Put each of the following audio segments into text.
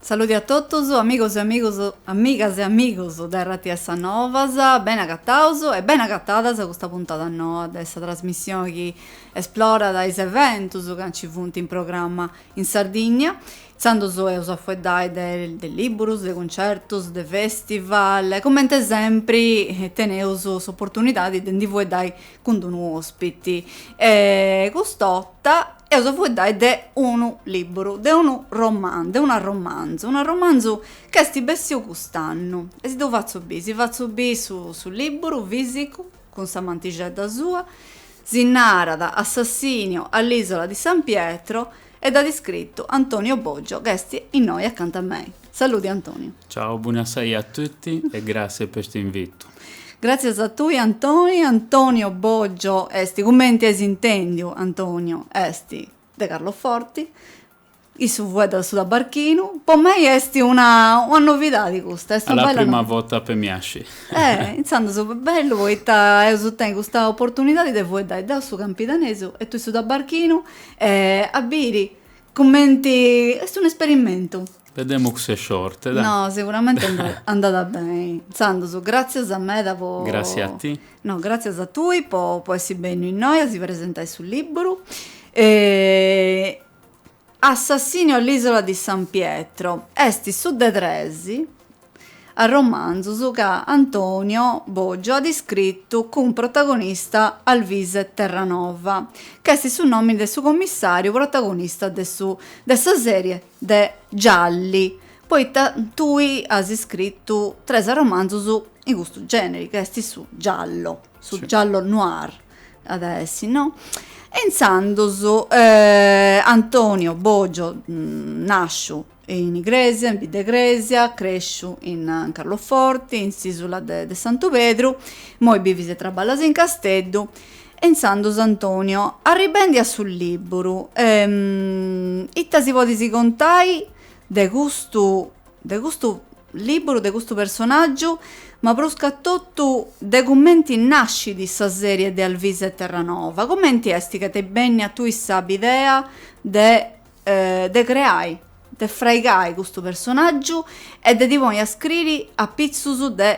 Saludi a totus amigos, amigas e amigos de RTS Novas, beni agatados e beni agatadas a custa puntada noa de sa trasmissioni chi esplorat is eventus chi nci funt in programma. In Sardigna, intzandus eus a fueddai de de libburus, de cuncertus, de festival e comente sempri teneus s'opportunidadi de ndi fueddai cun d'unu ospiti e cust'otta eus a fueddai de unu libburu, de unu romanzu, de un arromanzu, un arromanzu ch'esti bessiu cust'annu e si ddu fatzu biri, si fatzu biri su su libburu fisicu. cun sa mantixedda sua, si narat Assassinio all'isola di San Pietro e dd'at iscritu Antonio Boggio ch'est innoi acanta a mei. Saludi Antonio. Ciao, bonasaia a tutti e grazie pe st' invitu. Gràtzias a tui Antoni, Antonio Boggio est cumenti ais intendiu Antonio est de Carloforti, Issu fueddat su tabarchinu. Po mei est una novidadi custa, est una bella novidadi. A la prima vota pe mi asci. Eh, intzandus bellu poita eus tenni custa oportunidadi de fueddai deu su campidanesu e tui su tabarchinu e a biri cumenti, est un esperimentu. Vedemmu cussu sciorte, dai. No, siguramenti andat beni. Intzandus, gràtzias meda po. Gràtzias a ti. No, gràtzias a tui po essi benniu innoi a si presentai su liburu e Assassinio all'isola di San Pietro esti su de tres arromanzus ca Antonio Boggio at iscritu cun protagonista Alvise Terranova, ch'est su nòmini de su commissàriu protagonista de su de sa sèrie de Gialli, poita tui as iscritu tres arromanzus in custu gèneri, ca est su giallo. su giallo noir at a essi no e intzandus eh, Antonio Boggio nasciu in Igresia in Biddegresia cresciu in Carloforti in s'isula de de Santu Pedru immoi bivis e traballas in Casteddu e intzandus Antonio arribendi a su libburu ita si podis contai de custu de custu Lìburu de custu personàgiu, ma pruscatotu de cumenti nàscit sa sèrie de Alvise Terranova. Cumenti est chi t'est bennia a tui sa bidea de de creai, de fraigai custu personàgiu e de ti ponni a scriri apitzus de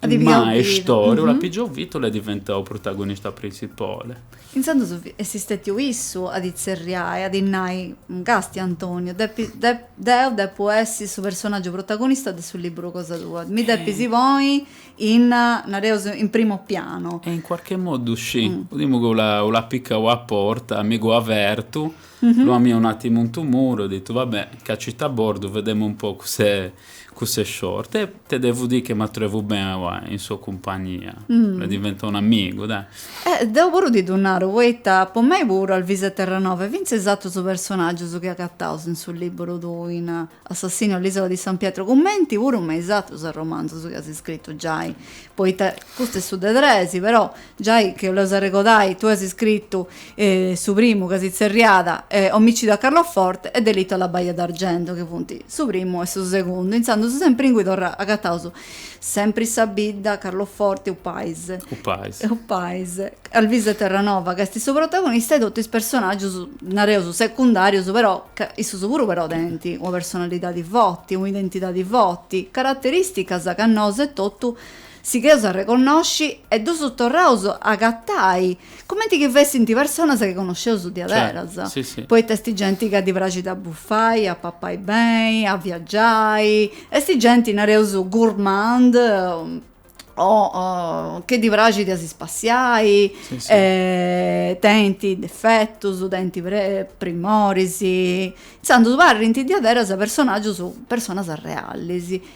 mai istoriu l'at pigiau vita l'è diventau protagonista printzipale. Intzandus est istetiu issu a ddi tzerriai, a ddi nai, Casti Antoniu, deu depu essi su personaggiu protagonista de su liburu cosa tua, mi depis ponni in, nareus, in primo piano. E in cuarche modu scì, podimu ch'u l'at picau a porta, mi gh'ho avertu, l'ho amiau un atimu intu muru e ho ditu, va bè, cacite a bordu, vedemu un po cus'è. Cusse sciorte e te devu dì che m'atrövu ben aua in so cumpagnia. M'è diventau un amigu, dai. E deu puru ti ddu naru poita po mei puru Alvise Terranova e fintzes atrus personaggius chi agataus in su liburu tuu in Assassinio all'isola di San Pietro cumenti puru me is atrus romanzus chi as scritu giai poita custu est su de tres però Giai chi 'olleus arregodai, tui as iscritu su primu ca si tzerriat Omicidio a Carloforte e Delitto alla Baia d'Argento, chi funt su primu e su segundu, intzandus sempri ingui torra agataus Sempri sa bidda, Carloforte, U paise. U paise. U paise. Alvise Terranova ca est su protagonista e totu is personaggius, nareus, secundarius però ca issus puru però tenint una personalidadi forti, un'identidadi forti, carateristicas ca nosu etotu Sigheus a reconnosci e ddus torraus a agatai, cumenti chi fessint personas chi connosceus diaderas, poita est genti ca ddi praxit a bufai, a papai beni, a viagiai, est genti, nareus, gourmand, o chi ddi praxit a si spassiai, tenint defetus, tenint primoris, intzandus parrint diaderas personagius, personas realis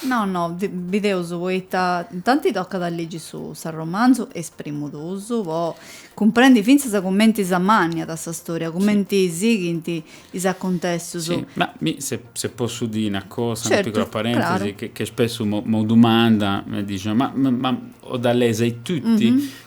No, no, bideus poita tanti tocat a ligi su s'arromanzu is primu duus po cumprendi fintzas cumenti s'amànniat sa storia, cumenti sighint is acuntessus. Si, ma mi se se possu dì una cosa, una piccola parentesi, che spessu me me dumandan, me dixan, ma ma ma ho da lezei tutti?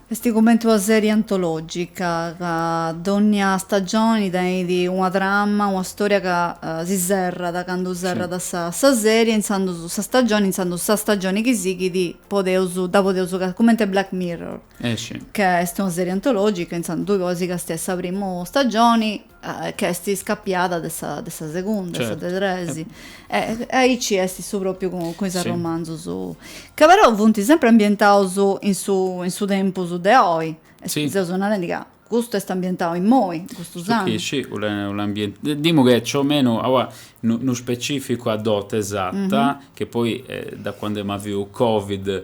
Est cumenti una sèrie antològica, ca dònnia stagioni tenit una trama, una stòria ca si serrat candu serrat sa sèrie, intzandus, sa stagioni, intzandus sa stagioni chi sighit podeus, dda podeus, cumenti a Black Mirror, ca est una sèrie antològica, intzandus tui podis castiai sa primu stagioni ca est iscapiada de sa de sa segunda, de sa de tres, e aici est su pròpiu cun is arromanzus, ca però funt sempri ambientaus in su in su tempus de oi, seus narendi ca custu est ambientau immoi, custus annus. Custu chi scì, unu dimu che è ciü o menu, aua, nu specificu a dote esata, che poi da cuande emu avüu covid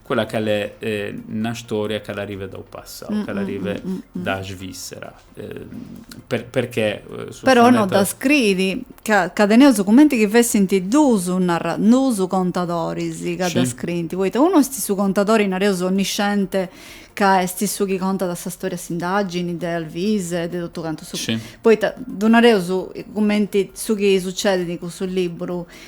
Quella ca l'è na storia ca l'arrive da 'u passau, ca l'arrive da Svissera. Perchè su Però no dda scriit, ca ca teneus cumenti chi fessint duus narra, duus contadoris ca dda scriint, poita unu est su contadori, nareus, onnisciente, ca est su chi contat sa storia de s'indagini de Alvise e de totu cantu su. Poita ddu nareus cumenti su chi sucedit in cussu liburu,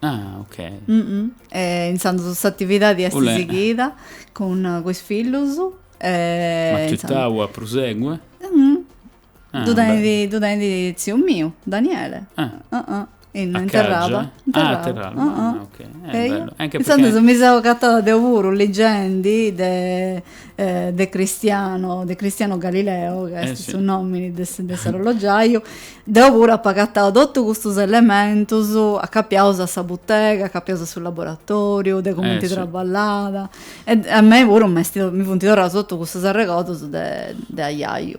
Ah, ok. Mm -mm. E intzandus s'atividadi est U l'è. sighida cun, cun is fillus. E, Ma intzandus- tzittau a prusegue? Mm. Ah, Ddu tenit, beh. ddu tenit tziu miu, Daniele. Ah. Ah, ah. In, A in Terraba. Cagia? In Ah, a Terraba, ah, ah, ok. Eh, Eia. bellu. Anche Intzandus perché- mi seu agatada deu puru, ligendi de de Cristiano, de Cristiano Galileo, ca est su nomini de s'arrollogiaiu, deu puru apu agatau totu custus elementus acapiaus a sa butega, acapiaus a su laboratoriu, de cumenti traballada, e a mei puru m'est, mi funt torraus totu custus arregordus de ajaiu.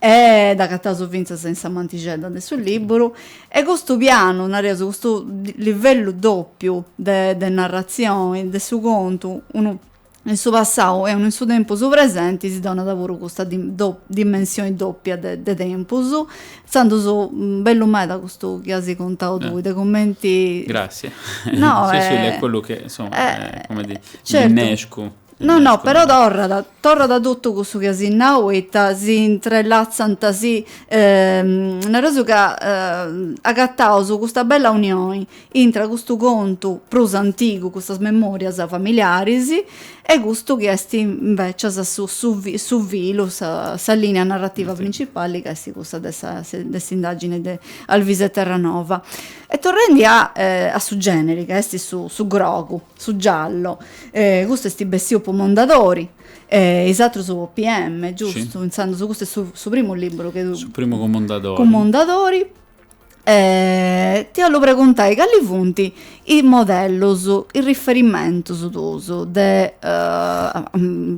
E dd'agataus fintzas in sa mantixedda de su lìburu, e custu pianu, nareus, custu livellu dòpiu de de narratzioni, de su contu, unu in su passau e unu in su tempus presenti, si donat puru custa dimensioni dòpia de tempus, intzandus bellu meda custu chi as contau tui, de cumenti. Gràssias. No, eh. Sì, sì, è quellu che, insomma, eh, come dì, mi nescu. No no, però torrat, torrat totu cussu chi as nau poita si intrelatzant, si, nareus ca agataus custa bella unioni intra custu contu prus antigu, custas memòrias familiaris e custu chi est invècias su su su filu, sa sa lìnia narrativa printzipali ca est cussa de sa de s'indàgine de Alvise Terranova. E torrendi a su gèneri ca est su su grogu, Su giallo, custu esti bessiu po Mondadori e is atrus po Piemme, giustu? Intzandus custu est su primu liburu chi. Su primu cun Mondadori. Cun Mondadori. Ti 'ollu preguntai cali funt is modellus, is riferimentus tuus de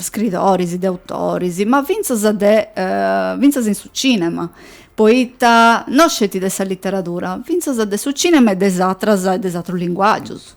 scritoris, de autoris, ma fintzas de fintzas in su cinema, poita no sceti de sa literadura, fintzas de su cinema e de is atras e de is atrus linguagius.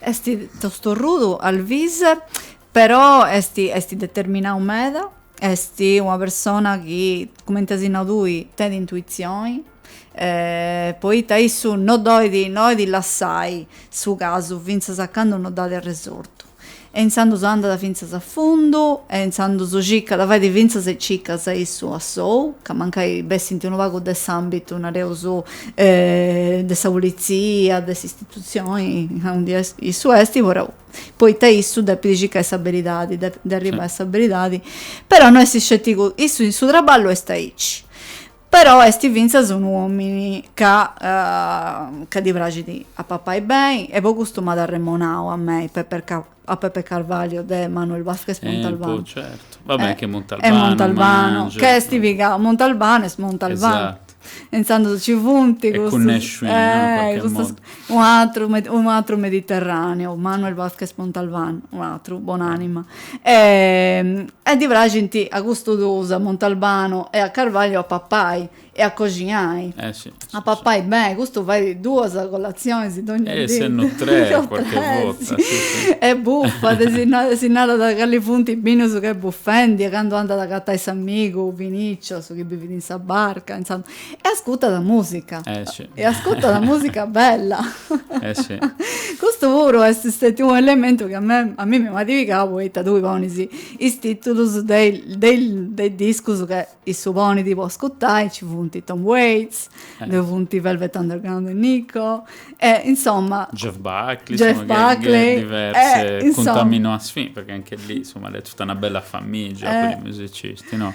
Est tostorrudu Alvise però est est determinau meda, est una persona chi cumenti as nau tui tenit intuitzioni poita issu no dd'olit, no 'olit lassai su casu fintzas a candu no dd'at arresortu E intzandus andat fintzas a fundu, e intzandus cicat, fait fintzas is cicas issu a sou, ca mancai bessint unu pagu de s'ambitu, nareus, de sa pulitzia, de s'istitutzioni, ca unu die issu est, però poita issu depit circai sa beridadi, de arribbai a sa beridadi, però no est scetigu, issu in su traballu est aici. Però est fintzas unu òmini ca ca ddi praxit a papai beni e po custu m'at arremonau a mei Pepe a Pepe Carvalho de Manuel Vázquez Montalbano. Eh be' certu, va beni che Montalbano. E Montalbano, ca est pigau, Montalbano est Montalbano. Esatto. E intzandus ci funt custus. E cunnesciu in custas. Unu atru, unu atru mediterraneu, Manuel Vazquez Montalban, unu atru, bon'anima. E, e ddi praxint a custus duus, a Montalbano e a Carvalho, a papai e a coxinai. Eh si. A papai beni, custu fait duas colatzionis dogna dì. E sennò tres quarche borta. E bufat, si narat calis funt is binus ca est bufendi e candu andat a agatai s'amigu Vinicio, su chi bivit in sa barca, insomm. E ascutat musica. Eh si. E ascutat musica bella. Eh si. Custu puru est stetiu u' elementu chi a me, a mimi m'at pigau poita tui ponis is titulus de de de is discus ca issu ponit po ascutai, nci funt Tom Waits, ddoi funt i Velvet Underground e Nico, e insoma. Jeff Buckley, Jeff Buckley. Diversi, e cuntaminasiun fin, perchè anch'elli, insoma, l'est totu una bella famìgia po is musicisti, no?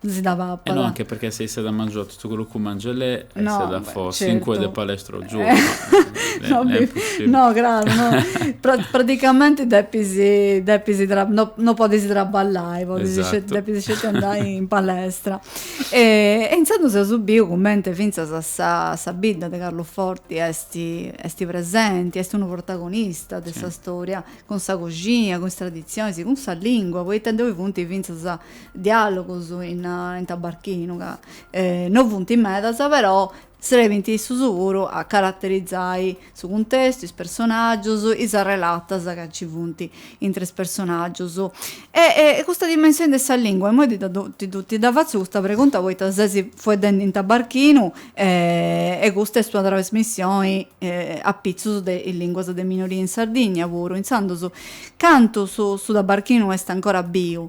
si dda papat. E no, anche perché se issa dda mangia tutto quello che mangia lei, e no, issa dda fò certo. cinque de palestra al giorno. Eh. no, ne, no, claro, no. pra, praticamente depisi, depisi tra, no, no podis traballai, podesi esatto. depis sceti andai in palestra. E, e intzandus eus biu cumenti finzas a sa, sa bidda de Carluforti esti, esti presenti, esti unu protagonista de sì. sa storia, cun sa coxina, cun is tradizionis, cun sa lingua, poita ddoi funti finzas diàlogus in in tabarchinu ca no funt medas però serbint issus puru a caraterizai su cuntestu is personaggius is arrelatas ca nci funt intre is personaggius e custa dimensioni de sa lingua imoi ti dda ti dda fatzu custa pregunta poita ses fueddendi in tabarchinu e custa est una trasmissioni apitzus de is linguas de minoria in Sardigna puru intzandus cantu su su tabarchinu est ancora biu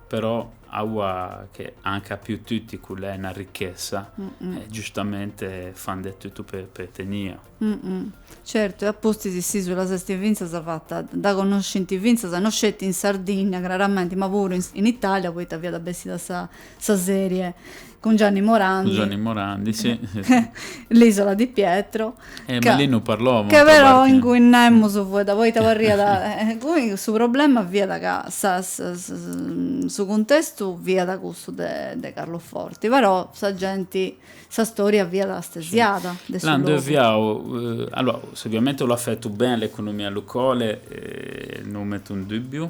Però aua an capiu tutti ch'u l'è na ricchessa, e giustamente fan de tuttu pe pe tenia. Certu, e a pustis s'isula s'est fintzas fatta a connosci fintzas no sceti in Sardinnia craramenti, ma puru in Italia, poita fiat bessida sa sa serie Cun Gianni Morandi. Cun Gianni Morandi, sì. L'Isola di Pietro. Eh, ca, ma lì non parlò molto. Che però parte. Ingunis naraus mm. fiat, poita parriat... cui su problema fiat ca sa, sa, sa, su cuntestu fiat cussu de, de Carloforti, però sa genti, sa storia fiat astesiada sì. de su logu. Là nd'est fiau, eh, allora, oviamente l'at fetu beni a l'economia locale, eh, non metu in dubbiu,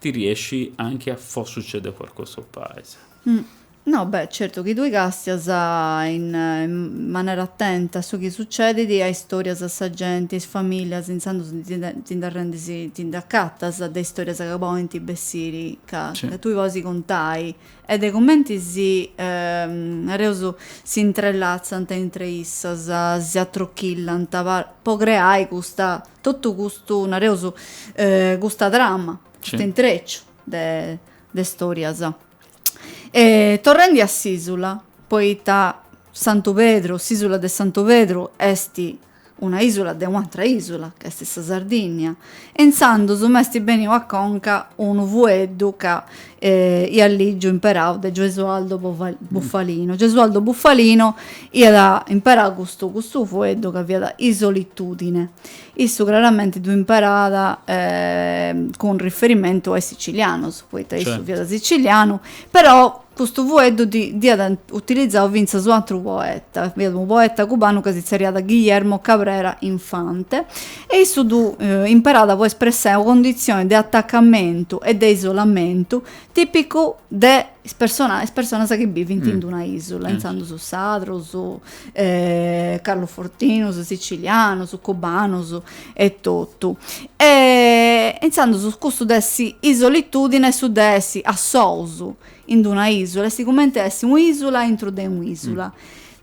Ti riesci anchi a fo succede qualcosa o paese. No, beh, certu chi tui castias in manera attenta su chi succedidi, a istorias, a sa genti, a is familias, intzandus ti nd'arrendis, ti nd'acatas de istorias ca podint bessiri ca tui podis contai e de cumenti si, nareus, si intrelatzant intre issas, si atrochillanta po creai custa Totu custu, nareus, custa trama, custu intreciu de de stòrias. E torrendi a s'ìsula, poita Santu Pedru, s'ìsula de Santu Pedru est una ìsula de un'atra ìsula, ca est sa Sardìnnia, e intzandus m'est bèniu a conca unu fueddu ca emu lìgiu imperau de Gesualdo Bufalino. Gesualdo Bufalino iat imperau custu custu fueddu ca fiat isolitudine. Issu craramenti ddu imperat cun riferimentu a is sicilianos, poita issu fiat sicilianu, però custu fueddu dd'iat utilizau fintzas u' atru poeta, fiat unu poeta cubanu ca si tzerriat Guillermo Cabrera Infante E issu ddu imparada po espressai u condizioni de attacamentu e de isolamentu tipicu de is persona is personas chi bivint in d'una isula, intzandus sardus, carlofortinus, sicilianus, cubanus e totu. E intzandus custu de essi isolitudine est su de essi assous in d'una isula, est cumenti essi u isula intru de u isula.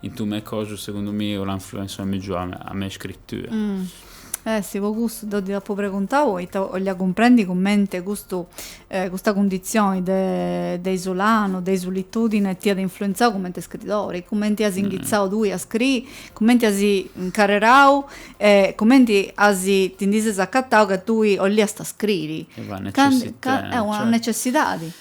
In tu me cosu segundu miu l'an fluensu megiu a me scrittura. Eh si po custu deu ti apu preguntau poita 'olia cumprendi cumenti custu custa cundizioni de de isulanu, de isolitudine ti at influenzau cumenti scridori, cumenti as inghitzau tui a scriri, cumenti as incarrerau e cumenti as ti ndi ses acatau ca tui 'oliast scriri. Est una necessità, cioè. Est una necessidadi.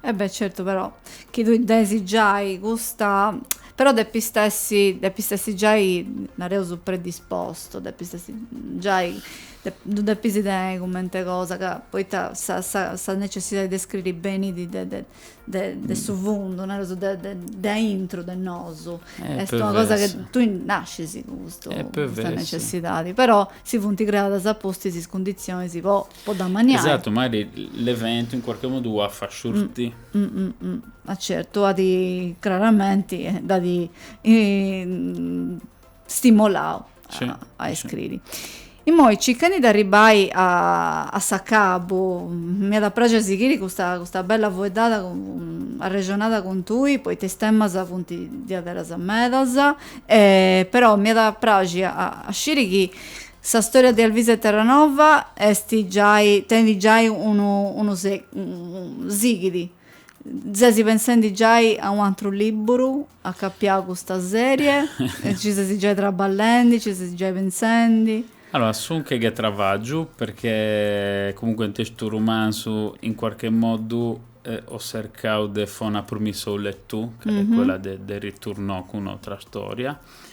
E beh certu però chi tui depis giai custa però depist essi depist essi giai nareus predispostu depist essi giai ddu depis tenei cumenti cosa ca poita sa sa sa necessidadi de scriri benit de de de de su fundu nareus de de de aintru de nosu est una cosa chi tui nascis cun custu custa necessidadi però si funt creadas a pustis is cundizionis po po dd'ammanniai. Esatu, mairi l'eventu in cuarche modu u a fa sciurtì. Ma certu, at craramenti t'at stimulau a iscriri. Immoi circhendi de arribbai a s'acabu, m'iat a praxiri a sighiri custa custa bella fueddada arrexonada cun tui, poita is temas funt diaderus medas, però m'iat a praxiri a sciri chi Sa storia de Alvise Terranova est giai, tenit giai unu unu sighit, ses pensendi giai a unu atru libburu acapiau a custa serie? Ci ses giai traballendi, ci ses giai pensendi? Allora, sun che ghe travagiu, perchè comunque nte stu rumanzu in quarche moddu ho sercau de fò una prumissa au lettù, ch'a l'è quella de de riturnò cun 'n'otra storia,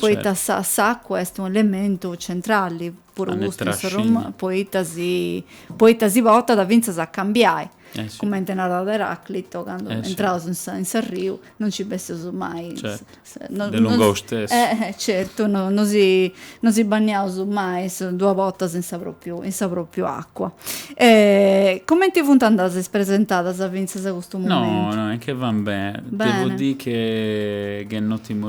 Poita sa s'acua est unu elementu centrali, puru custu in su poita si poita si portat fintzas a cambiai, cumenti narat Eraclito, candu intraus in sa in s'arriu non nci bessius mai, de lungu u stessu, certu, no no si no si banniaus mai duas bortas in sa propriu in sa propriu acua. Cumenti funt andadas is presentadas fintzas a custu momentu? No no est chi van ben, devu dì che gh'è 'n otimu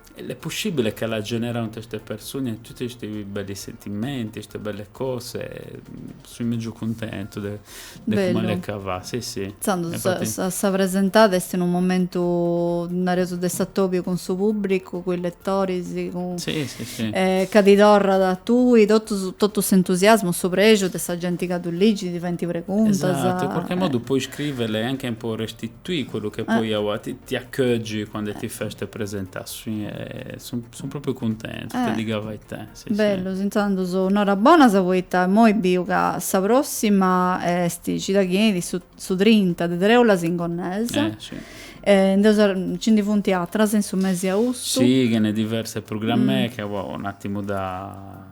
L'è pussibile ch'a l'ha generau nte ste persune tutti sti belli sentimenti, ste belle cose, sui megiu cuntentu de cum'a Bellu. l'è ch'a va, si si. Intzandus Infati sa sa presentada est in unu momentu, nareus, de s'atobiu cun su pubbricu, cun is lettoris, cun Si si si. e ca ti torrat a tui totus totu s'entusiasmu, su prexu de sa genti ca ddu ligit, ti faint preguntas. Esatu, in qualche modu po iscrivere e anche po resti tuì quellu che poi a ua ti accheggi quande ti fè ste presentasiun sun propriu cuntentu te digu a veité si si. Bellus intzandus norabonas poita immoi biu ca sa prossima esti cida chi 'enit su su trinta de treulas in Gonnesa e ndeus ci ndi funti atras in su mesi austu. Si ghe n'è diverse prugrammè ca po 'n atimu da.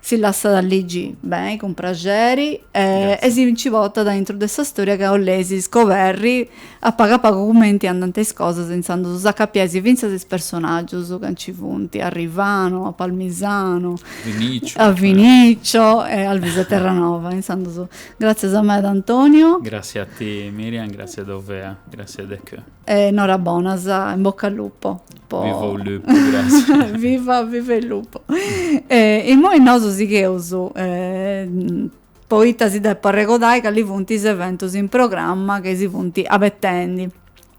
si lassat a ligi beni cun praxeri e, e si nci portat aintru de sa storia ca 'oleis scoberri a pagu a pagu cumenti andant is cosas intzandus s'acapiais fintzas is personaggius ca nci funt, a Rivano, a Palmisano, a Vinicio e a Alvise Terranova, intzandus gratzias meda Antonio. Gratzias a ti Miriam, gratzias dau vea, gratzias de cö. E norabonas, in bocca al lupo. po Viva u lupu grassi. Viva viva il lupo. E immoi nosu sigheus poita si depu arregodai cali funt is eventus in programma chi si funt abetendi.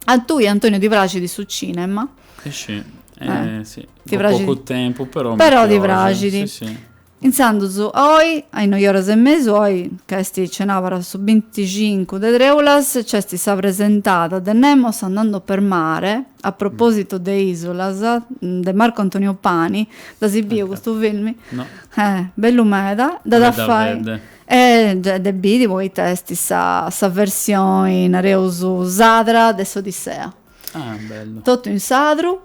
A tui Antonio ti praxit su cinema? Scì. Ti praxit. Po pocu tempus però mi praxit. Però ti praxit. Intzandus oi, a is noi oras e mesu, oi ca est cenàbara su binticincu de trèulas, nc'est sa presentada de Nemos andando per mare, a propositu de Isolas, de Marco Antonio Pani, dd'as biu custu filmi? No. Eh, bellu meda, dd'as a fai. Meda beni. Eh, ddu depis biri poita est sa sa versioni, nareus, sadra de s'Odissea. Ah, bellu. Totu in sadru,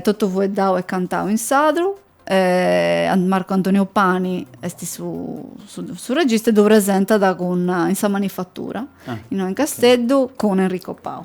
totu fueddau e cantau in sadru e Marco Antonio Pani est su, su, su regista e ddu presentat cun, in sa manifatura, ah, innoi in Casteddu, okay. cun Enrico Pau.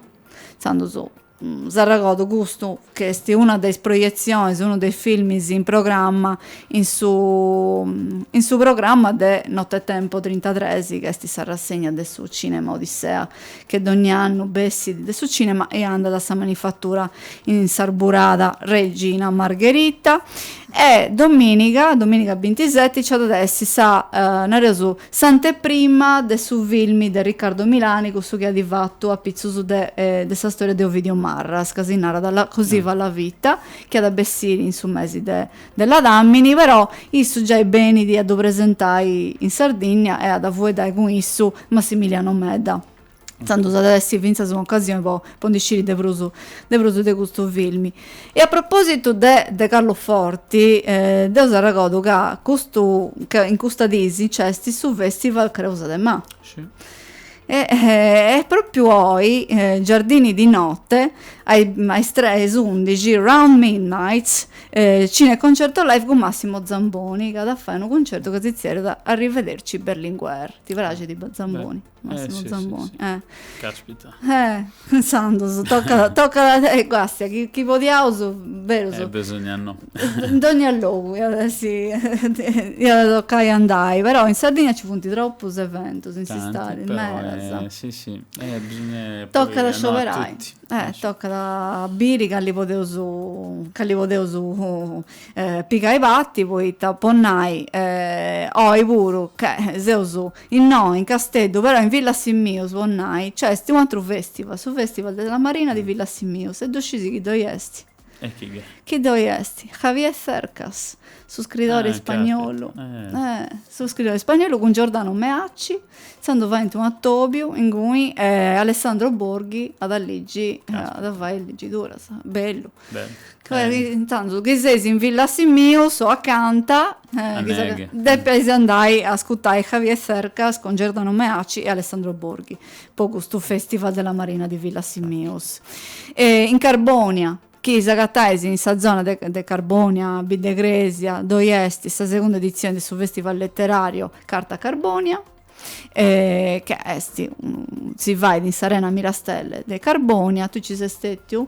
Intzandus mm, s'arregodu custu, chi est una de is proietzionis, unu de is filmis in programma, in su, mm, in su programma de Nottetempo 33, chi est sa rassegna de su cinema Odissea chi dogni annu bessit de su cinema e andat a sa manifattura in s'arburada Regina Margherita e dominiga dominiga bintiseti ci at de essi sa nareus s'anteprima de su filmi de Riccardo Milani cussu chi at fattu apitzus de de sa storia de Ovidio Marras ca si narat La così va la vita chi at bessiri in su mesi de de ladàmini, però, issu giai benidi a ddu presentai in Sardìnnia e at a fueddai cun issu Massimiliano Medda. Intzandus at a essi fintzas un'ocasioni po po ndi sciri de prus de prus de custu filmi. E a propòsitu de de Carloforti, deu s'arregodu ca custu ca in custas dìs nc'est su festival Creuza de Mà. E e propriu oi, Giardini di Note, a is tre a is undixi, Round Midnight, Cineconcerto Live cun Massimo Zamboni, ca at a fai unu cuncertu ca si tzerriat Arrivederci Berlinguer. Ti praxit Zamboni? Massimo Zamboni. Caspita. Intzandus, tocat, tocat, ecco, castia, chi podiaus, berus. Besogna no. in dogna logu iat essi iat tocai andai però in Sardigna ci funt tropus eventus in s'istadi medas si si e bisogna tocat a scioberai e tocat a biri cali podeus cali podeus pigai parti poita po nai oi puru chi seus innoi in Casteddu però in Villasimius po nai nc'est u' atru festival su festival della Marina di Villasimius e ddu scis chini ddoi esti Chini ddoi est? Javier Cercas, su scridori ispagnolu. Su scridori ispagnolu cun Giordano Meacci, intzandus faint unu atobiu inguni e Alessandro Borghi at a ligi, at a fai is ligiduras. Bellu. Intzandus, chi seis in Villasimius o acanta, depeis andai a ascutai Javier Cercas cun Giordano Meacci e Alessandro Borghi. po custu festival de la marina di Villasimius e in Carbonia chi s'agatat in sa zona de de Carbonia Bidd'e Crèsia ddoi est sa segunda editzioni de su festival letterario Carta Carbonia e ca est unu si fait in s'arena Mirastelle de Carbonia, tui ci ses stetiu?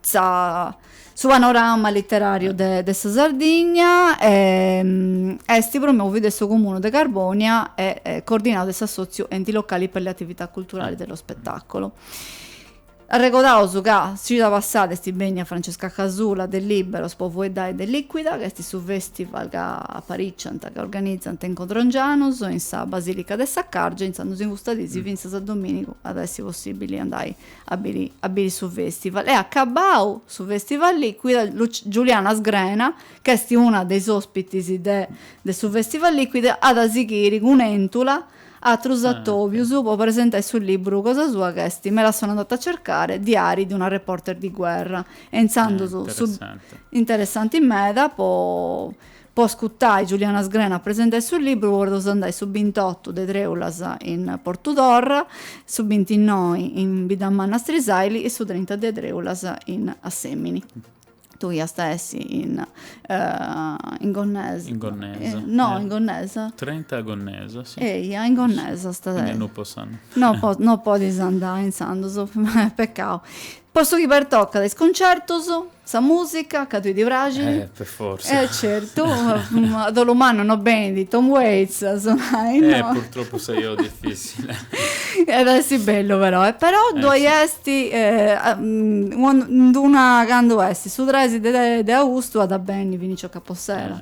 sa su panorama literàriu de de sa Sardigna est promòviu de su Comunu de Carbònia e coordinau de s'assòtziu Enti Locali per le Attività Culturali e di Spettacolo. Arregodaus ca s'cida passada est bènnia Francesca Casula de Lìberos po fueddai de Lìquida, ca est su fèstival ca aparìciant, ca organizant in Codrongianus, in sa Basìlica de Saccargia, intzandus in custas dis fintzas a domìnigu at a essi possìbili andai a biri a biri su festival e acabau su festival Lìquida Giuliana Sgrena ch'esti una de is ospitis de de su festival Lìquida at a sighiri cun Entula atrus atobius po presentai su liburu cosa sua ch'esti me la sono andata a cercare diari di una reporter di guerra e intzandus est interessanti meda po Po ascutai Giuliana Sgrena presentai su libru podeus andai su bintotu de Treulas in Portudorra, su bintinnoi in Biddamanna Strisaili e su trinta de Treulas in Assèmini. Tui iast a essi in in Gonnesa. In Gonnesa. No, in Gonnesa. Trenta a Gonnesa, si. Eia, in Gonnesa. Quindi no po s'annu. No po no podis andai intzandus, pecau. Po su chi pertocat is concertus, sa musica, ca tui ti praxit. Eh, per forza. Eh, certu. A dolu mannu no benit Tom Waits a sonai, no? Eh, purtroppu sa biu difficile. Iat a essi bellu però. E però ddoi est unu, nd'una, candu est su trexi de austu at a benni Vinicio Capossela.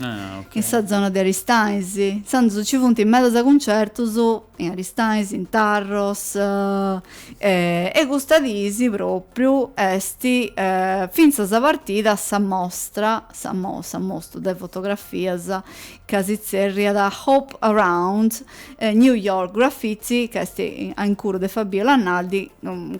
In sa zona de Aristanis, intzandus nci funt medas cuncertus in Aristanis, in Tarros, e custas dis propriu est fintzas partida sa mostra, sa mostra de fotografias ca si tzerriat Hope Around New York Graffiti, ca est a incuru de Fabiola Naldi,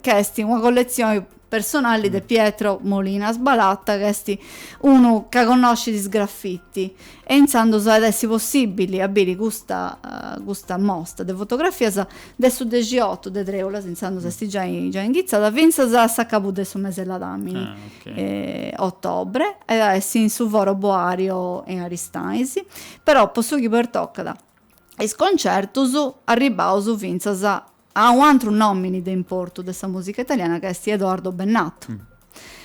ca est una colletzioni personali de Pietro Molinas Balata ca est unu ca connoscit is graffiti e intzandus at essi possibili a biri custa custa mostra de fotografias de su dexiotu de Treulas, intzandus est giai giai inghitzada, fintzas a s'acabu de su mese 'e ladamini ottobre e at essi in su Foro Boario in Aristanis, però po su chi pertocat is concertus arribbaus fintzas a un'atru nomini de importu de sa musica italiana ca est Edoardo Bennato.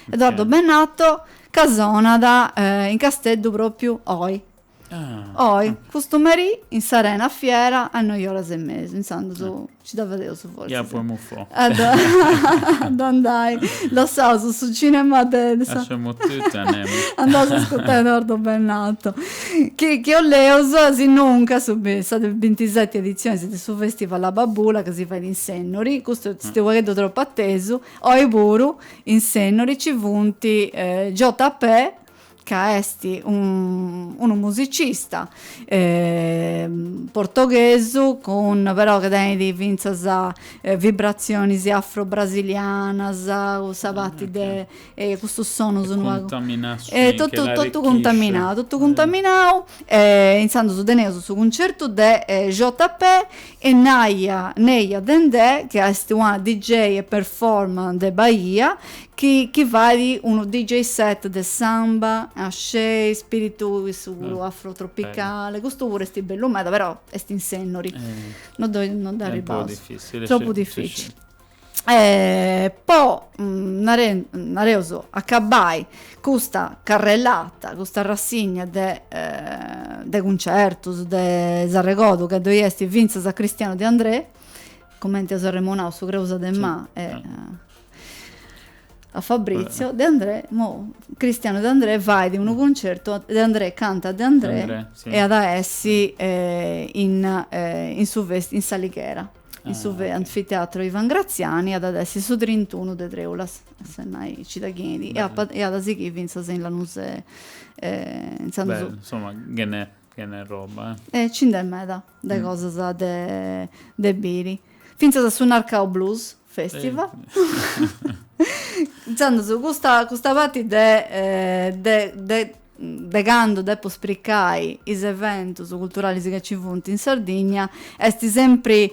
Edoardo Bennato ca sonat in Casteddu propriu oi. Oi, custu merì in s'Arena Fiera a noi oras e mesu, intzandus nci dda fadeus forsis. Ia po emufò. A dda a dda andai. Lassaus su cinema de sa. Lasciamo tutto e andiamo. Andaus a ascurtai Edoardo Bennato. Chi chi boleus, sinunca sa de bintiseti editzionis de su festival Abbabula ca si fait in Sennori, custu est unu pagheddu tropu atesu, oi puru in Sennori nci funt JP ca est unu musicista portoghesu cun però ca tenit fintzas vibratzionis afro-brasilianas, cun sa parti de e custus sonus unu pagu e totu totu cuntaminau totu cuntaminau e intzandus teneus su cuncertu de JP e Neia Dendè chi est una DJ e performer de Bahia chi chi fait unu DJ set de samba, axé, spiritu cussu puru afrotropicale, custu puru est bellu meda però est in Sennori non ddoi non dd'arribaus, tropu dificili po nareus acabai custa carrellata custa rassigna de de cuncertus si arregordu ca ddoi est fintzas a Cristiano De Andrè cumenti eus arremonau su creusa de ma e a Fabrizio De Andrè imoi Cristiano De Andrè fait unu cuncertu De Andrè canta De Andrè e at a essi in in su festi in s'Alighera In su anfiteatro Ivan Graziani at a essi su trintunu de Treulas, si no nci dda feis e at a sighiri fintzas in Lanusei e intzandus. Bellu, insoma ce n'è ce n'è roba, eh. E ci nd'est meda de cosas de de biri. Fintzas a su Narcau Blues Festival. Intzandus custa custa parti de de de de candu depu spricai is eventus culturalis ca nci funt in Sardigna, est sempri,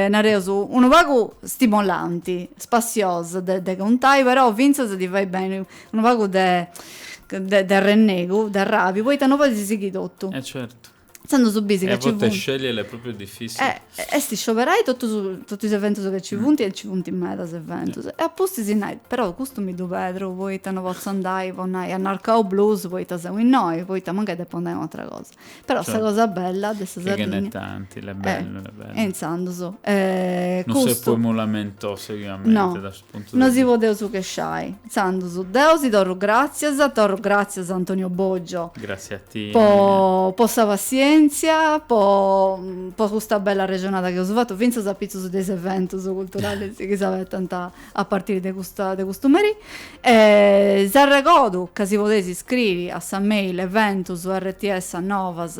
nareus, unu pagu stimolanti, spassiosa de de contai, però fintzas ti fait benni unu pagu de de arrennegu, de arrabiu, poita no podis sighiri totu. E certu. Intzandus su bisi ca ci funt. E a bortas scegliere est pròpriu difìssil. Eh, est scioberai totus totu is eventus ca ci funt e nci funt medas eventus. E a pustis nai, però custu mi ddu perdu poita no potzu andai po nai a Narcau Blues poita seu innoi, poita mancai depu andai a un'atra cosa. Però sa cosa bella de sa Sardigna. Chi ce n'è tanti, est bellu, est bellu. E intzandus, custu. No seus po imoi lamentosu, sighiamenti. No. No si podeus chesciai. Intzandus deu si torru gràtzias, torru gràtzias a Antonio Boggio. Gràtzias a ti. Po sa passièntzia, po po custa bella arrexonada chi eus fatu, fintzas apitzus de is eventus culturalis chi s'abetant a partiri de custa de custu meri. E s'arregordu ca si podeis iscriri a sa mail eventus rts novas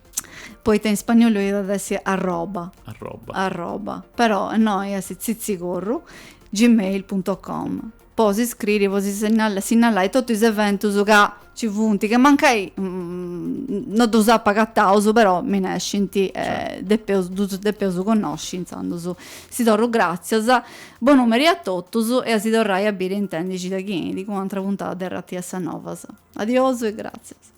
Poita in spagnolu iat essi arroba. Arroba. Arroba. Però innoi est tzitzicorru gmail punto com. Po si scriri, po si sinnalai totu is eventus ca ci funt, ca mancai no ddus apa agataus, però mi nescint e depeus, ddus depeus connosci, intzandus si torru gràtzias. Bonu meri a totus e a si torrai a biri e intendi cida chi 'enit cun u'atra puntada de RTS Novas. Adiosu e gràtzias.